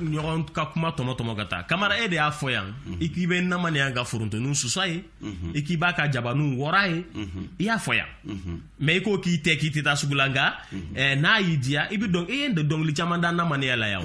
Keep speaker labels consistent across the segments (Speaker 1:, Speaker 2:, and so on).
Speaker 1: ɲɔgɔn ka kuma tɔmɔ tɔmɔ ka taa kamara e de y'a fɔ yan mhm. i k'i bɛ namaniya ka forontoninw sus'a ye mhm. i k'i b'a ka jabaninw wɔr'a ye mhm. i y'a fɔ yan mais i ko k'i tɛ k'i tɛ taa sugu la nka eh, n'a y'i diya i bɛ dɔn i ye dɔnkili caman da namaniya la yan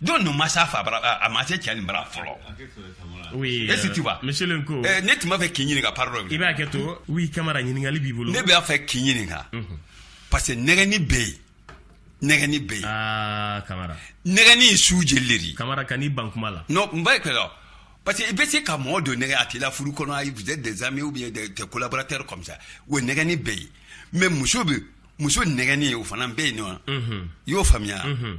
Speaker 2: don ninnu ma sa fa bara a ma se cɛ nin bara fɔlɔ
Speaker 1: oui est-ce que tu vois
Speaker 2: monsieur le ko eh, ne tun
Speaker 1: b'a fɛ k'i
Speaker 2: ɲininka pardon i b'a kɛ to oui
Speaker 1: kamara ɲininkali b'i bolo ne b'a fɛ k'i ɲininka
Speaker 2: mhm. parce que nɛgɛni bɛ yen nɛgɛni bɛ yen ah,
Speaker 1: kamara nɛgɛni ye
Speaker 2: su jeli de ye kamara kan'i ban kuma
Speaker 1: la non n b'a kɛ
Speaker 2: dɔ parce que i bɛ se ka mɔgɔ dɔ nɛgɛ a t'i la furu kɔnɔ ayi vous êtes des amis ou bien des, des collaborateurs comme ça o nɛgɛni bɛ yen mais muso bɛ muso nɛgɛni o fana bɛ yen non mhm. i y'o faamuya mhm.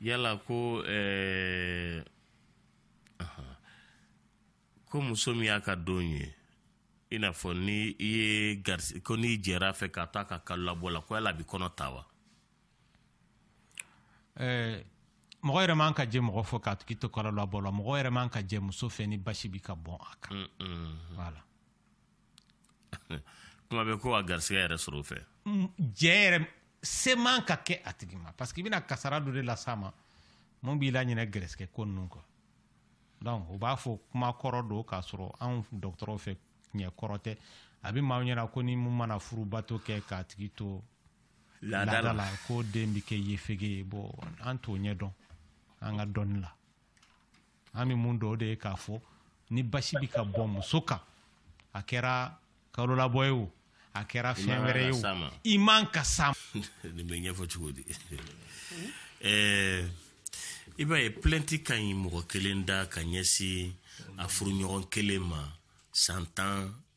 Speaker 1: yala ko eh, ko muso min y'a ka don ye i n'a fɔ ni i ye garisi ko n'i jɛr'a fɛ ka t'a ka kalolabɔ la ko yala a bɛ kɔnɔ ta wa
Speaker 3: eh, mɔgɔ yɛrɛ man ka jɛ mɔgɔ fɛ k'a tigi to kalolabɔ la mɔgɔ yɛrɛ man ka jɛ muso fɛ ni basi bi ka bɔn a kan mm, mm, mm. voilà
Speaker 1: kuma bɛ ko a garisɛgɛ yɛrɛ sɔrɔ fɛ mm, jɛ
Speaker 3: yɛrɛ se man ka kɛ a tigi ma parce que i bɛna kasara dɔ de las'a ma mun b'i laɲinɛ gɛrɛsɛgɛ ko ninnu kɔ donc u b'a fɔ kuma kɔrɔ don k'a sɔrɔ anw dɔgɔtɔrɔw fɛ ɲɛ kɔrɔ tɛ a bɛ maaw ɲɛna ko ni mun mana furubato kɛ k'a tigi to laada la ko den bɛ kɛ yefege ye bon an t'o ɲɛ dɔn an ka dɔnni la an bɛ mun dɔn o de ye k'a fɔ ni basi bɛ ka bɔ muso kan a kɛra kalolabɔ ye o a kɛra fɛn wɛrɛ ye o i man ka s'a nin bɛ
Speaker 1: ɲɛfɔ cogo di i b'a ye plainte ka ɲi mɔgɔ kelen da ka ɲɛsin a furuɲɔgɔn kelen ma san tan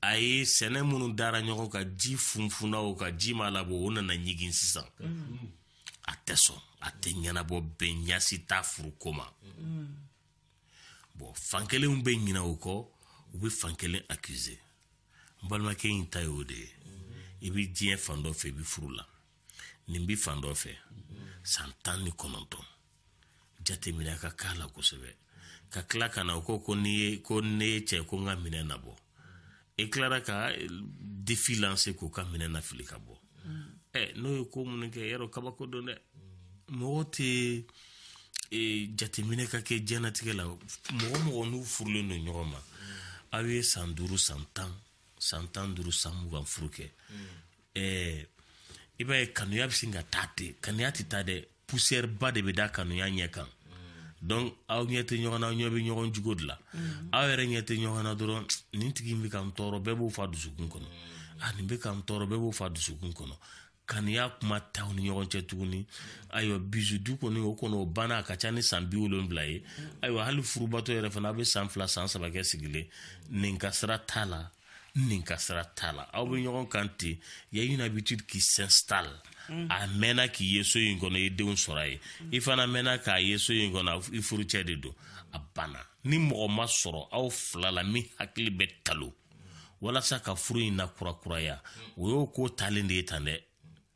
Speaker 1: a ye sɛnɛ minnu dara ɲɔgɔn kan ji funfunna u kan ji ma labɔ o nana ɲigin sisan a tɛ sɔn a tɛ ɲɛnabɔ bɛn ɲa si t'a furu ko ma bon fankelenw bɛ ɲina o kɔ u bɛ fankelen accuser n balimakɛ in ta ye o de ye i bɛ diɲɛ fan dɔ fɛ i bɛ furu la nin bɛ fan dɔ fɛ san tan ni kɔnɔntɔn jateminɛ ka k'a la kosɛbɛ ka tila ka na o ko ko ne ye ko ne ye cɛ ko n ka minɛn nabɔ i tilara ka défi lancer k'o ka minɛn nafili ka bɔ ɛ n'o ye ko minnu kɛ yɛrɛ kabako don dɛ mɔgɔ tɛ e, jateminɛ ka kɛ diɲɛnatigɛ la mɔgɔ mɔgɔ n'u furulen don ɲɔgɔn ma aw ye san duuru san tan san tan duuru san mugan furu kɛ ɛɛ i b'a ye kanuya bɛ sin ka taa ten kanuya tɛ taa dɛ poussière ba de bɛ da kanuya ɲɛ kan donc aw ɲɛ tɛ ɲɔgɔn na aw ɲɛ bɛ ɲɔgɔn jugo de la mm. aw yɛrɛ ɲɛ tɛ ɲɔgɔn na dɔrɔn nin tigi in bɛ ka n tɔɔrɔ bɛɛ b'o f'a dusukun kɔnɔ a ah, nin bɛ ka n tɔɔrɔ bɛɛ b'o f'a dusukun kɔnɔ kanuya kuma t'aw ni ɲɔgɔn cɛ tuguni ayiwa bisou dun kɔni o kɔni o banna a ka ca ni san bi wolonwula ye ayiwa hali furubato yɛrɛ fana a bɛ san fila san saba kɛ sigilen nin ka sira t'a la nin ka sira t'a la aw bɛ ɲɔgɔn kan ten y a une habitude qui s'installe mm. a mɛnna k'i ye so in kɔnɔ i ye denw sɔrɔ a ye i fana mɛnna k'a ye so in kɔnɔ i furucɛ de don a banna ni mɔgɔ ma sɔrɔ aw fila la min hakili bɛ talo walasa ka furu in nakurakuraya o y'o ko talen de ye tan dɛ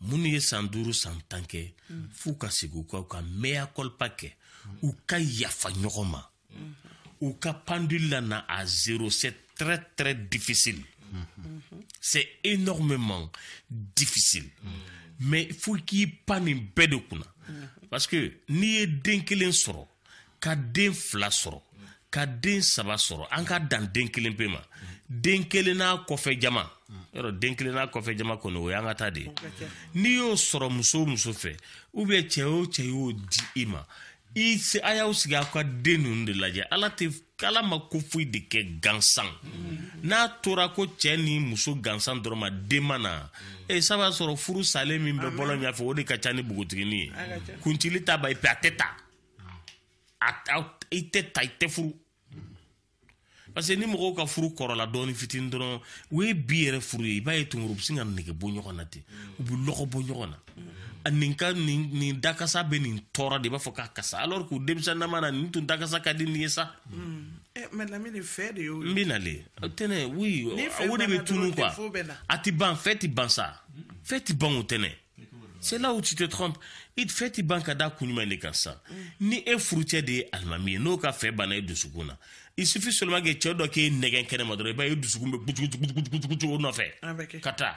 Speaker 1: minnu ye san duuru san tan kɛ f'u ka sigi u ka u ka mea culpa kɛ u ka yafa ɲɔgɔn ma u ka pendule lana à zéro c'est très très difficile c'est énormément difficile mais fo k'i pan nin bɛɛ de kunna parce que n'i ye den kelen sɔrɔ ka den fila sɔrɔ ka den saba sɔrɔ an ka dan den kelen pe ma den kelen n'a kɔfɛ jama yɔrɔ den kelen n'a kɔfɛ jama kɔni o y'an ka ta de ye n'i y'o sɔrɔ muso o muso fɛ ou bien cɛ o cɛ y'o di i ma i se a y'aw sigi aw ka den ninnu de lajɛ ala tɛ k'ala ma ko foyi de kɛ gansan n'a tora ko cɛ ni muso gansan dɔrɔn ma den ma na e eh, sa b'a sɔrɔ furu salen min bɛ bɔlɔn ɲafɛ o de ka ca ni bogotigini ye kuncili ta ba ipe a tɛ ta i tɛ ta i tɛ furu parce que ni mɔgɔw ka furu kɔrɔla dɔɔni fitini dɔrɔn o ye bi yɛrɛ furu ye i b'a ye tunkuru u bɛ sin ka nege bɔ ɲɔgɔn na ten u bɛ lɔgɔ bɔ ɲɔgɔn na nin ka nin nin dakasa bɛ nin tɔɔrɔ de i b'a fɔ k'a kasa alors que denmisɛnnama na nin tun dakasa ka di nin ye sa. mais
Speaker 4: lamini fɛ de y'o ye. n bɛ nale
Speaker 1: tɛnɛ oui o de bɛ tunu quoi a tɛ ban fɛ tɛ ban sa fɛ tɛ ban o tɛnɛ c'est là où tu te trompes i fɛ tɛ ban ka da kun jumɛn de kan sa ni e furucɛ de ye alimami ye n'o ka fɛ banna e dusukun na il suffit seulement que cɛ dɔ k'e nɛgɛn kɛnɛ ma dɔrɔn i b'a ye e dusukun bɛ gutugutugutugutugu o nɔfɛ ka taa.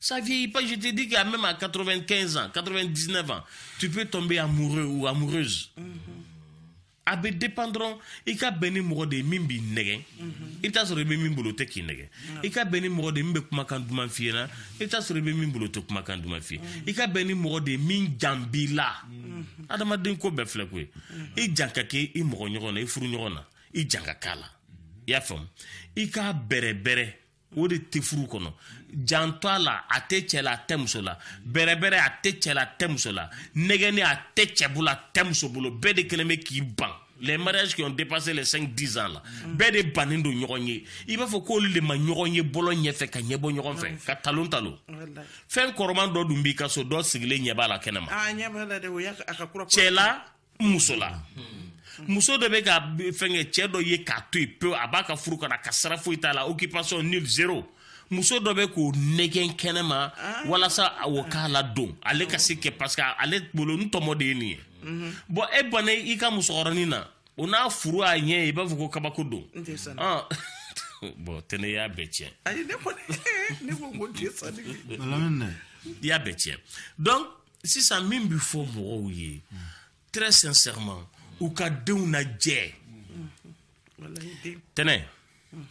Speaker 1: Ça vieillit pas, je te dis que même à 95 ans, 99 ans, tu peux tomber amoureux ou amoureuse. Mm -hmm. A bɛ dépendre dɔrɔn i ka bɛn ni mɔgɔ de ye min b'i nɛgɛn i bɛ t'a sɔrɔ i bɛ min bolo o tɛ k'i nɛgɛn i ka bɛn ni mɔgɔ de ye min bɛ kumakan duman f'i ɲɛna i bɛ t'a sɔrɔ i bɛ min bolo o tɛ kumakan duman f'i ye i ka bɛn ni mɔgɔ de ye min jan b'i la adamaden ko bɛɛ filɛ koyi i jan ka kɛ i mɔgɔ ɲɔgɔn na i furu ɲɔgɔn na i jan ka k'a la i y'a faamu i k'a bɛrɛbɛrɛ o de tɛ furu kɔnɔ janto a la a tɛ cɛ la a tɛ muso la bɛrɛbɛrɛ a tɛ cɛ la a tɛ muso la nɛgɛnni a tɛ cɛ bolo a tɛ muso bolo bɛɛ de kɛlen bɛ k'i ban les mariages qui ont dépassé les 5 10 ans là mm. bɛɛ de bannen don ɲɔgɔn ye i b'a fɔ k'olu de ma ɲɔgɔn ye bɔlɔn ɲɛfɛ ka ɲɛbɔ ɲɔgɔn fɛ mm. ka talon talon fɛn kɔrɔman dɔ dun b'i ka so dɔ sigilen ɲɛ b'a la kɛnɛ ma ah, cɛ la muso la muso dɔ bɛ ka fɛnkɛ cɛ dɔ ye k'a to yen pewu a b'a ka furu kɔnɔ a ka sira foyi t'a la occupation nul zéro muso dɔ bɛ k'o nɛgɛn kɛnɛ ma ah. walasa o k'a ladon ale ka se kɛ parce que ale bolo n tɔmɔ de ye nin ye mhm. bon e banna i ka musokɔrɔnin na o n'a furu a ɲɛ ye i b'a fɔ ko kabako don bon tɛnɛ y'a bɛɛ tiɲɛ i y'a bɛɛ tiɲɛ donc sisan min bɛ fɔ mɔgɔw ye très sincèrement u ka denw najɛ tɛnɛ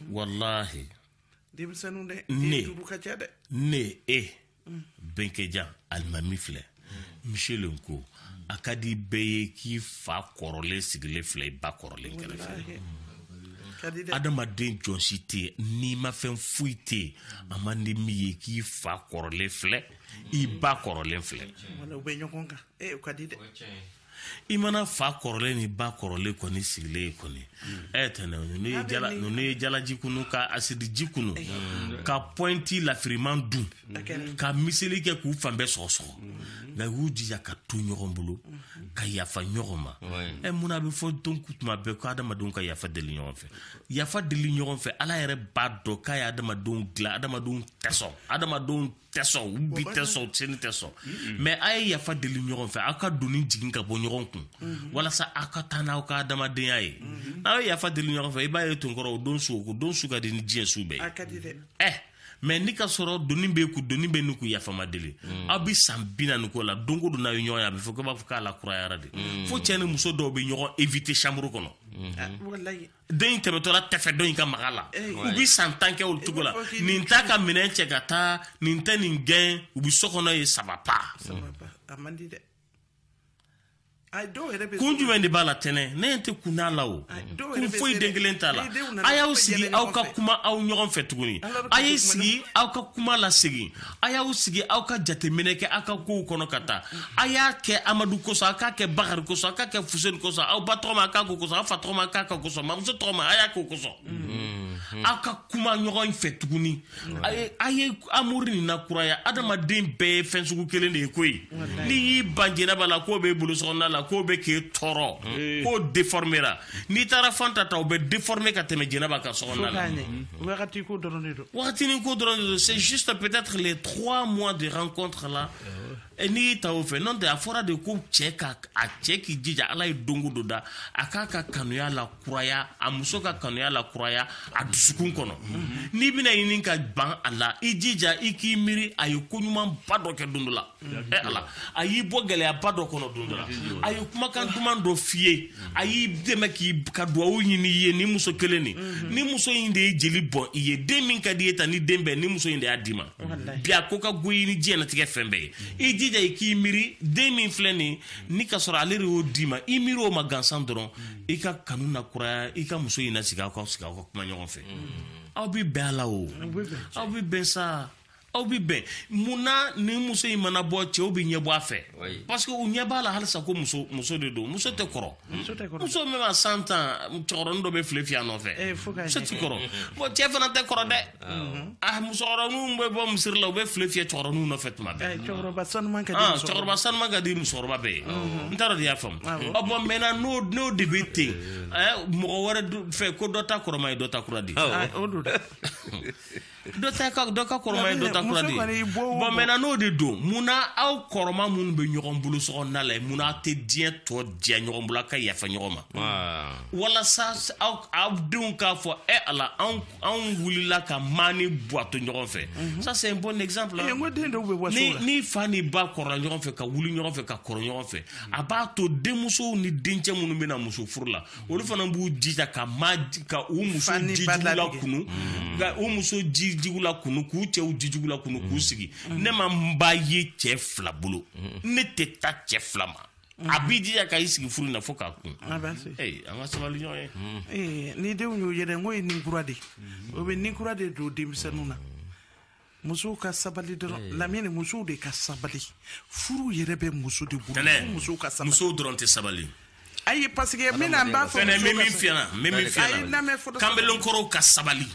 Speaker 1: walahi denmisɛnninw dɛ ne duuru ka ca dɛ ne e bɛnkɛjan alimami filɛ michel n ko a ka di bɛɛ ye k'i fa kɔrɔlen sigilen filɛ i ba kɔrɔlen kɛrɛfɛ adamaden jɔn si tɛ nimafɛn foyi tɛ a man di min ye k'i fa kɔrɔlen filɛ. i ba kɔrɔlen filɛ i mana fa kɔrɔlen ni ba kɔrɔlen kɔni sigilen ye kɔni tɛnɛ ninnu ye jalaji kunu ka asidiji kunu ka pɔinti lafiriman dun ka miseli kɛ k'u fan bɛɛ sɔgɔsɔgɔ nka u y'u jija ka to ɲɔgɔn bolo ka yafa ɲɔgɔn ma ɛ mun a bɛ fɔ don tuma bɛɛ ko adamadenw ka yafa deli ɲɔgɔn fɛ yafa deli ɲɔgɔn fɛ ala yɛrɛ b'a dɔn k'a ye adamadenw dilan adamadenw tɛ sɔn adamadenw tɛ sɔn u bi tɛ sɔn sini tɛ sɔn mais a ye yafa deli ɲɔgɔn fɛ aw ka doni jigin ka bɔ ɲɔgɔn kun mhm. walasa aw ka taa n'aw ka adamadenya ye mhm. n'aw ye yafa deli ɲɔgɔn fɛ i b'a ye tonkɔrɔ o don su o don su ka di ni diɲɛ su bɛɛ ye eh, mais n'i k'a sɔrɔ doni b'e kun doni bɛ nin kun yafa ma deli mm. aw bɛ san bi naani k'o la don o don n'aw ye ɲɔgɔn ye a bɛ fɔ ko b'a fɔ k'a lakurayara de mm. fo cɛ ni muso dɔw bɛ ɲɔgɔn éviter chambre kɔnɔ mm-hmm. ah, dɔ in tɛmɛtɔla t'a fɛ dɔ in ka maga a la u bi san tan kɛ o cogo la nin t'a ka minɛn cɛ ka taa nin tɛ nin gɛn u bi so kɔnɔ yen ça va pas kun jumɛn de b'a la tɛnɛ ne ɲɛ tɛ kun n'a la o kun foyi den kelen t'a la a y'aw sigi aw ka kuma aw ɲɔgɔn fɛ tuguni a y'i sigi aw ka kuma lasegin a y'aw sigi aw ka jateminɛ kɛ aw ka kow kɔnɔ ka taa a y'a kɛ amadu kosɔn a k'a kɛ bakari kosɔn a k'a kɛ fuseni kosɔn aw ba tɔgɔma a k'a k'o kosɔn aw fa tɔgɔma a k'a k'o kosɔn mamuso tɔgɔma a y'a k'o kosɔn mm-hmm. aw ka kuma ɲɔgɔn fɛ tuguni a ye amour nin nakuraya adamaden bɛɛ ye fɛn sugu kelen de ye koyi n'i y'i ban jɛnɛba la k'o b'e bolo sɔgɔnda la k'o bɛ k'e tɔɔrɔ k'o déformera n'i taara Fanta ta o bɛ déformer ka tɛmɛ jɛnɛba ka so kɔnɔna la wagati ko
Speaker 4: dɔrɔn de don wagatinin ko dɔrɔn de
Speaker 1: don c'est juste peut-être les trois mois de rencontre là eh, n'i y'i ta o fɛ n'o tɛ a fɔra de ko cɛ ka a cɛ k'i jija ala ye don o don da a k'a ka kanuya lakuraya a muso ka kanuya lakuraya a dusukun kɔnɔ n'i bɛna ɲini ka ban a la i jija i k'i miiri a ye ko ɲumanba dɔ kɛ don dɔ la Eh, ala a y'i bɔ gɛlɛyaba dɔ kɔnɔ don dɔ la a ye kumakan duman dɔ f'i ye a y'i dɛmɛ k'i ka duwawu ɲini i ye ni muso kelen nin mhm. ni muso in de ye jeli bɔn i ye den min ka di i ye ta ni den bɛɛ ni muso in de y'a d'i ma bi a ko ka go i ni diɲɛnatigɛ fɛn bɛɛ ye mhm. i jija i k'i miiri den min filɛ nin ni ka sɔrɔ ale de y'o d'i ma i miiri o ma gansan dɔrɔn mhm. i ka kanu na kuraya i ka muso in na sigi aw ka sigi aw ka kuma ɲɔgɔn fɛ aw bɛ bɛn a la o aw bɛ bɛn sa aw bɛ bɛn mun na ni muso in mana bɔ cɛw bɛ ɲɛ bɔ a fɛ parce que u ɲɛ b'a la halisa ko muso muso de don muso tɛ kɔrɔ muso même à cent ans cɛkɔrɔnin dɔ bɛ file fiyɛ a nɔfɛ eh, muso tɛ kɔrɔ bon cɛ fana tɛ kɔrɔ dɛ a mm-hmm. ah, musokɔrɔninw bɛ bɔ misiri la u bɛ file fiyɛ cɛkɔrɔninw nɔfɛ tuma bɛɛ eh, cɛkɔrɔba sanuman ka di ah, cɛkɔrɔba sanuman ka di musokɔrɔba bɛɛ ye mm-hmm. n t'a dɔn n'e y'a faamu ah, ɔ bon maintenant n'o n'o de bɛ ten eh. mɔgɔ wɛrɛ fɛ ko dɔ ta kɔrɔma ye dɔ ta kura di dɔ ta ka dɔ ka kɔrɔma ye dɔ ta kura de ye bon maintenant n'o de don mun na aw kɔrɔma minnu bɛ ɲɔgɔn bolo so kɔnɔna la mun na aw tɛ diɲɛ tɔ diya ɲɔgɔn bolo aw ka yafa ɲɔgɔn ma walasa aw aw denw k'a fɔ ɛ ala anw anw wulila ka maa ni buwa to ɲɔgɔn fɛ mhm. ça c'est un bon exemple eh, ni ni fa ni ba kɔrɔla ɲɔgɔn fɛ ka wuli ɲɔgɔn fɛ ka kɔrɔ ɲɔgɔn fɛ a b'a to denmusow ni dencɛ minnu bɛna muso furu la olu fana b'u jija ka ma ka u muso jijugu la kunu ka u muso jijugu la kunu k'u cɛw jijugu la kunu k'u sigi ne ma n ba ye cɛ fila bolo ne tɛ taa cɛ fila ma a b'i jija ka i sigi furu na fo k'a kun an ka sabali ɲɔgɔn ye eh, ni denw y'o ye dɛ n
Speaker 4: ko ye nin kura de o bɛ nin kura de don denmisɛnninw na musow ka sabali dɔrɔn eh. lamini musow de ka sabali furu yɛrɛ bɛ muso de bolo musow ka sabali musow dɔrɔn tɛ sabali
Speaker 1: ayi parce
Speaker 4: que min n'an b'a fɔ fɛn min min fiɲɛna min
Speaker 1: min fiɲɛna kanbelenkɔrɔw ka sabali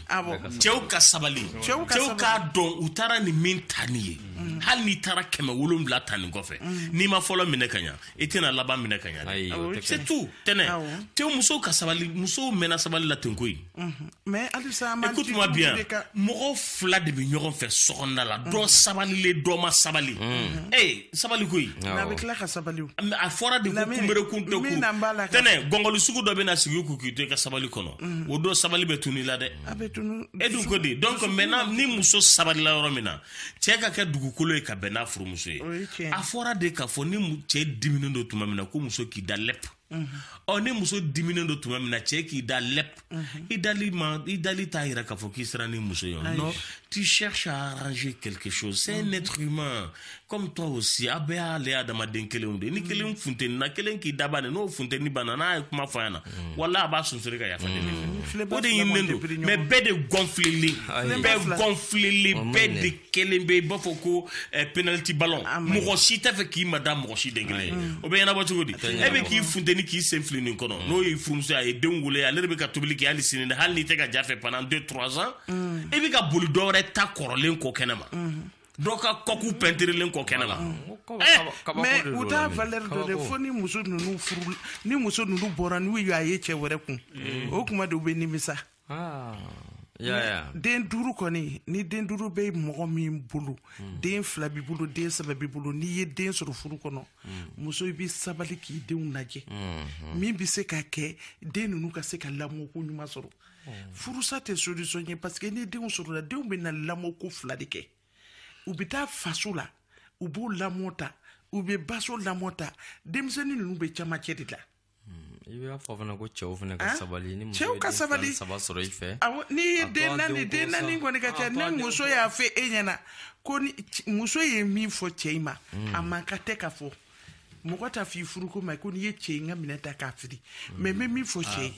Speaker 1: cɛw ka sabali cɛw k'a dɔn u taara ni min ta ni ye mm. hali n'i taara kɛmɛ wolonwula ta nin kɔfɛ mm. n'i ma fɔlɔ minɛ ka ɲa i tɛna laban minɛ ka ɲa Ayi, o tɛ kɛ. c'est tout tɛnɛ Awɔ. te musow ka sabali musow mɛnna sabali la ten koyi mais halisa
Speaker 4: an b'an écoute-moi bien de ka-
Speaker 1: mɔgɔ fila de bɛ ɲɔgɔn fɛ so kɔnɔna la dɔ sabalilen dɔ ma sabali ee sabali koyi n'a bɛ tila ka
Speaker 4: sabali o Mais a fɔra de ko
Speaker 1: Lamini, kunbere kun tɛ min na n b'a la kun ka- tɛnɛ gɔngɔli sugu dɔ bɛna sigi i kun k'i to i ka sabali kɔnɔ o don sabali bɛ tunu i la dɛ a bɛ tunu e dun ko di donc maintenant ni muso sabalila yɔrɔ min na cɛɛ ka kɛ dugukolo ye ka bɛn n'a furumuso ye a fɔra de k'a fɔ ni cɛɛ diminen don tuma min na ko muso k'i da lɛp ɔ ni muso diminen don tuma min na cɛɛ k'i da lɛp i dali ma i dali t'a yira k'a fɔ k'i sera ni muso ye non tu cherches à arranger quelque chose c'est un être humain comme toi aussi a bɛɛ y'ale adamaden kelenw de ni kelen funtenina kelen k'i daba de n'o funteni banna n'a ye kuma fɔ a ɲɛ na wala a b'a sonsori ka yafa deli o de ɲininen don mais bɛɛ de gonflélen bɛ gonflélen bɛɛ de kɛlen bɛ i b'a fɔ ko eh, penalty ballon mɔgɔ si t'a fɛ k'i mada mɔgɔ si den kelen ye o bɛ ɲɛnabɔ cogo di e bɛ k'i funteni k'i sen fili nin kɔnɔ n'o y'i furumuso a ye denw wolo ale de bɛ ka tobili kɛ hali sini dɛ hali n'i tɛ ka ja fɛ pendant deux trois ans e bɛ ka boli dɔwɛrɛ ta kɔrɔlen kɔ kɛnɛ ma dɔ ka kɔku pɛntirilen kɔ kɛnɛ la
Speaker 4: mais u t'a valeur dɔn dɛ fo ni muso ninnu furu ni muso ninnu bɔra n'u y'a ye cɛ wɛrɛ kun mm. o kuma de u bɛ nimisa ah, den duuru kɔni ni den duuru bɛ mɔgɔ min bolo mm. den fila b'i bolo den saba b'i bolo n'i ye den sɔrɔ furu kɔnɔ mm. muso i bɛ sabali k'i denw lajɛ mm-hmm. min bɛ se ka kɛ den ninnu ka se ka lamɔko ɲuman sɔrɔ furusa tɛ solution ye parce que ni denw sɔrɔla denw bɛna lamɔko fila de kɛ u bɛ taa faso la u b'o lamɔ ta u bɛ baso lamɔ ta denmisɛnnin ninnu bɛ camancɛ de la i b'a
Speaker 5: fɔ fana ko cɛw fana ka sabali ni cɛw ka sabali saba
Speaker 4: sɔrɔ i
Speaker 5: fɛ n'i ye den
Speaker 4: naani den naani kɔni ka ca ni muso y'a fɛ e ɲɛ na ko muso ye min fɔ cɛ in ma a man kan tɛ ka fɔ mɔgɔ t'a f'i furukɛ ma ko n'i ye cɛ ye n ka minɛn ta k'a fili mais n bɛ min fɔ cɛ ye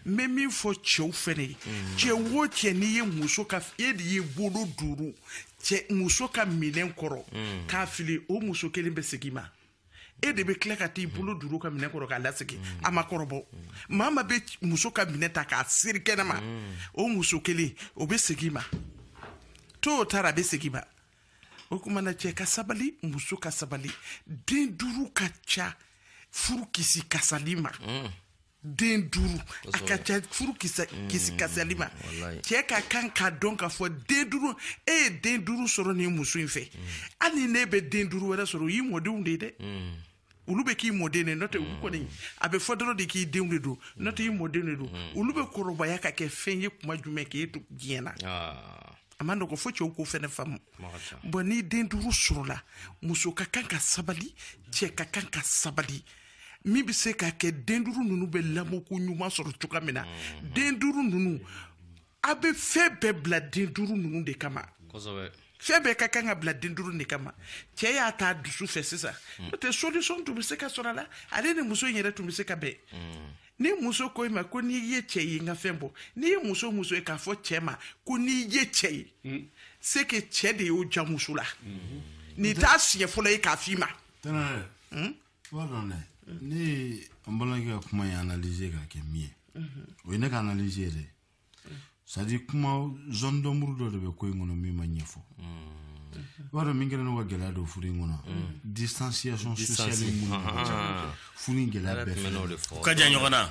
Speaker 4: n bɛ min fɔ cɛw fɛnɛ ye cɛ o cɛ n'i ye muso ka e de ye bolo duuru cɛ muso ka minɛn kɔrɔ k'a fili o muso kelen bɛ segin ma e de bɛ tila ka t'i bolo duuru ka minɛn kɔrɔ k'a lasegin a ma kɔrɔbɔ maa ma bɛ muso ka minɛn ta k'a seri kɛnɛ ma o muso kelen o bɛ segin ma to o taara a bɛ segin ma o kuma na cɛ ka sabali muso ka sabali den duuru ka ca furu kisi kasali ma mm. den duuru a ka ca furu mm, kisi kasali ma cɛ ka kan k'a dɔn k'a fɔ den duuru e ye den duuru sɔrɔ nin muso in fɛ mm. hali n'e bɛ den duuru wɛrɛ sɔrɔ o y'i mɔdenw de ye dɛ olu bɛ k'i mɔden de n'o tɛ olu kɔni a bɛ fɔ dɔrɔn de k'i denw de don n'o tɛ i mɔden de don olu bɛ kɔrɔbaya ka kɛ fɛn ye kuma jumɛn k'e to diɲɛ na ah. a man nɔgɔ fo cɛw k'o fɛnɛ faamu bon ni den duuru sɔrɔla muso ka kan ka sabali cɛ ka kan ka sabali min bɛ se ka kɛ den duuru ninnu bɛ lamɔko ɲuman sɔrɔ cogoya min na mm-hmm. den duuru ninnu a bɛ fɛn bɛɛ bila den duuru ninnu de kama fɛn bɛɛ ka kan ka bila den duuru de kama cɛ y'a ta dusu fɛ sisan hmm. n'o tɛ solution tun bɛ se ka sɔrɔ a la ale ni muso in yɛrɛ tun bɛ se ka bɛn hmm. ni muso ko i ma ko n'i ye cɛ ye n ka fɛn bɔ n'i ye muso muso ye k'a fɔ cɛ ma ko n'i ye cɛ ye hmm. c'est que cɛ de y'o ja muso la nin t'a siɲɛ fɔlɔ ye k'a f'i ma b'a dɔn
Speaker 6: dɛ ne ye an balimakɛ ka kuma in analyser k'a kɛ min ye o ye ne ka analyse ye dɛ c'est à dire kuma zone d'ombre dɔ de bɛ ko in kɔnɔ min ma ɲɛfɔ i b'a dɔn min kɛra n'o ka gɛlɛya don furu in kɔnɔ distanciation sociale mun furu in gɛlɛya bɛɛ fɛ ka jan ɲɔgɔn
Speaker 1: na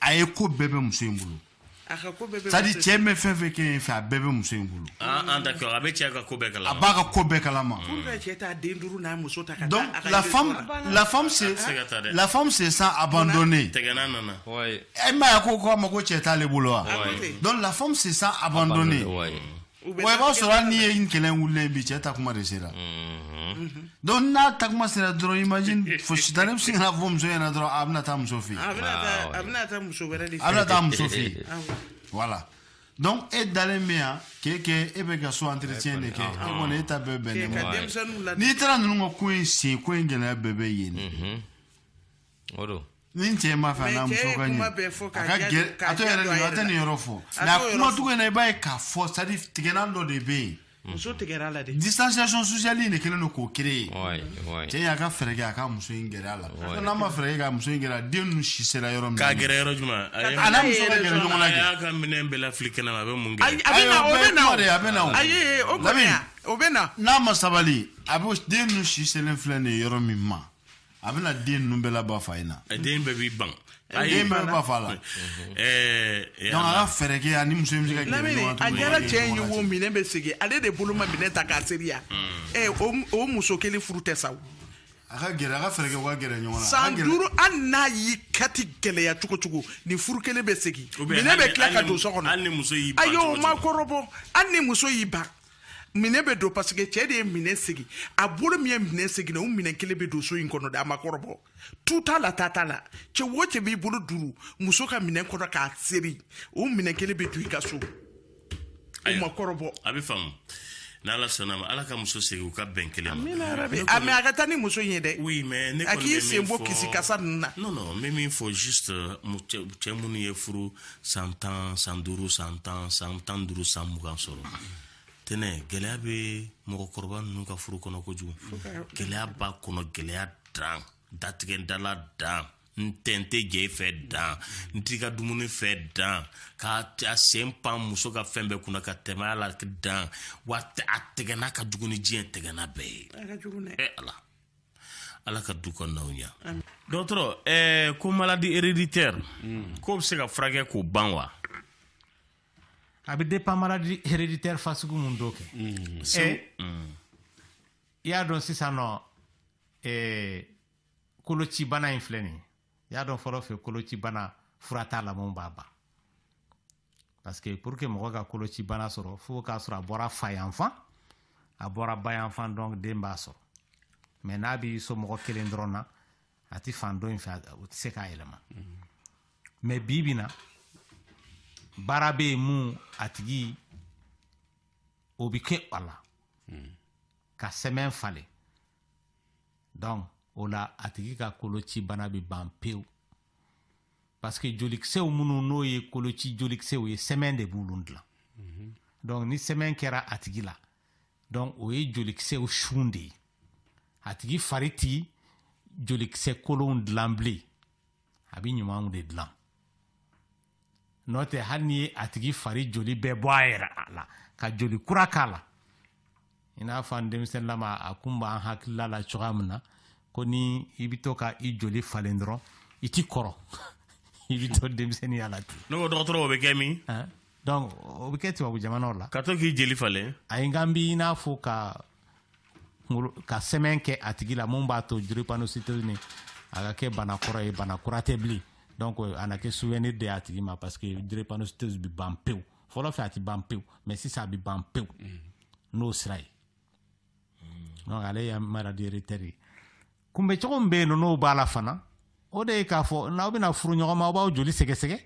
Speaker 6: a ye ko bɛɛ bɛ muso in bolo c'est à dire cɛ bɛ fɛn fɛn kɛ fɛ a bɛɛ bɛ muso in bolo ah, ah, a bɛ cɛ
Speaker 1: ka ko bɛɛ kalama a b'a ka ko bɛɛ kalama
Speaker 6: la femme se sent
Speaker 1: abandonnée e m'a
Speaker 6: ye a ko ko a ma ko cɛ t'ale bolo wa donc la femme se sent abandonnée U bɛ wa i b'a sɔrɔ hali n'i ye kɛlɛ wulilen bi cɛ taa kuma de sera Mhm. donc n'a taa kuma sera dɔrɔn imagine fo sitani bɛ se ka na fɔ muso ɲɛna dɔrɔn a bɛna taa muso fɛ yen a bɛna Ah, taa ouais. a bɛna taa
Speaker 4: muso wɛrɛ de a fɛ bɛna taa muso fɛ yen
Speaker 6: Ah, ouais. voilà donc e dalen bɛ yan k'e kɛ e bɛ ka so entretien de kɛ e kɔni e ta bɛɛ bɛnnen K'e ka bɔ denmisɛnninw la n'i taara ninnu ka ko in sen ko in gɛlɛya bɛɛ bɛ yen de.
Speaker 5: o don ni cɛ ma fɛ
Speaker 6: n'a muso ka ɲɛ a ka gɛrɛ a to yɛrɛ a tɛ nin yɔrɔ fɔ mais a kuma cogo in na i b'a ye k'a fɔ c'est à dire tigɛlan dɔ de bɛ yen muso tigɛra a la dɛ
Speaker 4: distanciation sociale
Speaker 6: in de kɛlen don k'o créer cɛ y'a ka fɛɛrɛ kɛ a ka muso in gɛrɛ a la n'a ma fɛɛrɛ kɛ ka muso in gɛrɛ a den ninnu si sera yɔrɔ min k'a gɛrɛ yɔrɔ
Speaker 1: jumɛn a n'a muso ka
Speaker 6: gɛrɛ ɲɔgɔn na de a y'a ka minɛn
Speaker 1: bɛɛ lafili kɛnɛ ma a bɛ mun kɛ a bɛ na o bɛ na o a
Speaker 6: bɛ na o ayi o kɔni
Speaker 4: o bɛ na n'a ma sabali
Speaker 6: a bɛ den ninnu si selen filɛ nin ye yɔrɔ min ma a bɛna den ninnu bɛɛ laban fa in na eh, den bɛɛ b'i
Speaker 1: ban eh, den bɛɛ ban
Speaker 6: fa la eh, donc a ka fɛɛrɛ kɛ a ni muso in bɛ se ka gɛrɛ ɲɔgɔn na a jara cɛ in ye wo
Speaker 4: minɛn bɛ segin ale de bolo ma minɛn ta k'a seri wa ɛ hmm. o muso kelen furu tɛ sa o a ka
Speaker 6: gɛrɛ a ka fɛɛrɛ kɛ u ka gɛrɛ ɲɔgɔn na san duuru hali
Speaker 4: n'a y'i kati gɛlɛya cogo cogo nin furu kelen bɛ segin minɛn bɛ tila ka don so kɔnɔ ayi
Speaker 1: o ma kɔrɔbɔ
Speaker 4: hali ni muso y'i ban minɛn bɛ don parce que cɛ de ye minɛn segin a bolo min ye minɛn segin o minɛn kelen bɛ don so in kɔnɔ de a ma kɔrɔbɔ tu t'a la ta t'a la cɛ o cɛ b'i bolo duuru muso ka minɛn kɔnɔ k'a seri o minɛn kelen bɛ
Speaker 1: don i
Speaker 4: ka so o ma kɔrɔbɔ a bɛ faamu
Speaker 1: n'ala sɔnna ma ala ka muso segin u ka bɛn kelen ma ah mais a
Speaker 4: ka taa ni muso in ye dɛ oui mais ne a k'i
Speaker 1: sen bɔ kisi
Speaker 4: kasa ninnu na non non n bɛ min fɔ
Speaker 1: juste cɛ minnu ye furu san tan san duuru san tan san tan duuru san mugan sɔrɔ tɛnɛ gɛlɛya bɛ mɔgɔkɔrɔba ninnu ka furu kɔnɔ kojugu gɛlɛya b'a kɔnɔ gɛlɛya dan datigɛ dala dan n tɛ n tɛ jɛ i fɛ dan n t'i ka dumuni fɛ dan ka a sen pan muso ka fɛn bɛɛ kunna ka tɛmɛ a la dan wa a tɛgɛna ka jugu ni diɲɛ tɛgɛna bɛɛ ye ɛ ala ala ka du kɔnɔnaw ɲa dɔgɔtɔrɔ eh, ko maladie héréditaire mm. k'o bɛ se ka furakɛ k'o ban wa
Speaker 3: a bɛ dépend maladie héréditaire fasugu mun don kɛ mm. eh, mm. i y'a dɔn sisan nɔ eh, kolocibana in filɛ nin y'a dɔn fɔlɔ fɛ kolocibana fura t'a la mun b'a ban parce que pour que mɔgɔ ka kolocibana sɔrɔ fo k'a sɔrɔ a bɔra fa yanfan a bɔra ba yanfan donc den b'a sɔrɔ mais n'a b'i somɔgɔ kelen dɔrɔn na a ti fan dɔ in fɛ o tɛ se k'a yɛlɛma mais bi bi na baara bɛ yen mun a tigi o bɛ kɛ a la ka sɛmɛn falen donc o la a tigi ka koloci bana bɛ ban pewu parce que jolikisɛw minnu n'o ye koloci jolikisɛw ye sɛmɛn de b'olu dilan mhm. donc ni sɛmɛn kɛra a tigi la donc o ye jolikisɛw sun de ye a tigi fari ti jolikisɛ kolonw dilan bilen a bɛ ɲumanw de dilan n'o tɛ hali n'i ye a tigi fari joli bɛɛ bɔ a yɛrɛ a la ka joli kura k'a la i n'a fɔ an denmisɛnninlama a kun b'an hakilila la cogoya min na ko ni i bɛ to ka i joli falen dɔrɔn i ti kɔrɔ i bɛ to denmisɛnninya la ten ne ko dɔgɔtɔrɔ o bɛ kɛ
Speaker 1: min donc
Speaker 3: o bɛ kɛ tubabu jamanaw la ka to k'i jeli falen
Speaker 1: ayi n kan bi i n'a
Speaker 3: fɔ ka ka sɛmɛn kɛ a tigi la mun b'a to drépanocytose nin a ka kɛ bana kɔrɔ ye bana kura tɛ bilen donc a na kɛ souvenir de y'a tigi ma parce que drépanocytose bi ban pewu fɔlɔ fɛ a ti ban pewu mais sisan a bi ban pewu n'o sira ye donc ale ye maladie héréditaire ye kunbɛcogo min bɛ yen nɔ n'o b'a la fana o de ye k'a fɔ n'aw bɛna furu ɲɔgɔn ma aw b'aw joli sɛgɛsɛgɛ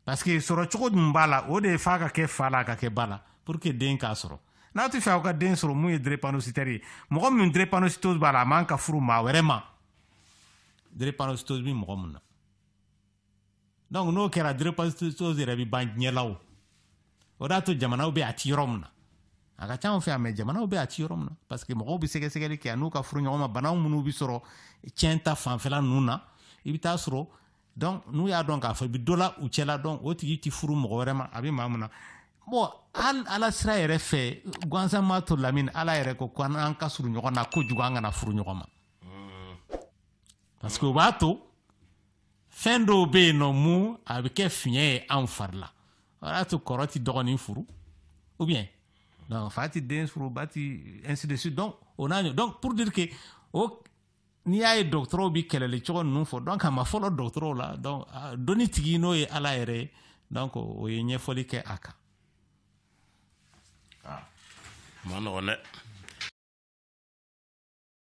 Speaker 3: parce que sɔrɔ cogo min b'a la o de ye f'a ka kɛ fa la ka kɛ ba la pour que den k'a sɔrɔ n'aw t'a fɛ aw ka den sɔrɔ mun ye drépanocytaire ye mɔgɔ min drépanocytose b'a la a man ka furu maa wɛrɛ ma drépanocytose bɛ mɔgɔ min na donc n'o kɛra drépanocytose yɛrɛ bɛ ban diɲɛ la o de y'a to jamanaw bɛ a ti yɔrɔ min na a ka ca anw fɛ yan mais jamanaw bɛ a ti yɔrɔ min na parce que mɔgɔw bɛ sɛgɛsɛgɛli kɛ yann'u ka furu ɲɔgɔn ma banaw minnu bɛ sɔrɔ tiɲɛ ta fanfɛla ninnu na i bɛ taa sɔrɔ donc n'u y'a dɔn k'a fɔ i bɛ dɔ la u cɛla donc o tigi tɛ furu mɔgɔ wɛrɛ ma a bɛ maa min na bon hali ala sira yɛrɛ fɛ gansan ma to lamini ala yɛrɛ ko ko an ka surun ɲɔgɔn na kojugu an kana furu ɲɔgɔn ma parce que o b'a to fɛn dɔw bɛ yen nɔ mun a bɛ kɛ fiɲɛ ye anw fari la o y'a to kɔrɔ tɛ dɔgɔnin furu ou bien donc fa tɛ den furu ba tɛ ainsi de suite donc o n'a ɲɔ donc pour dire que o n'i y'a ye dɔgɔtɔrɔw bɛ kɛlɛli cogo ninnu fɔ donc a ma fɔlɔ dɔgɔtɔrɔw la donc dɔnni tigi n'o ye ala yɛrɛ ye donc o ye ɲɛfɔli kɛ a kan
Speaker 1: a man nɔgɔn
Speaker 3: dɛ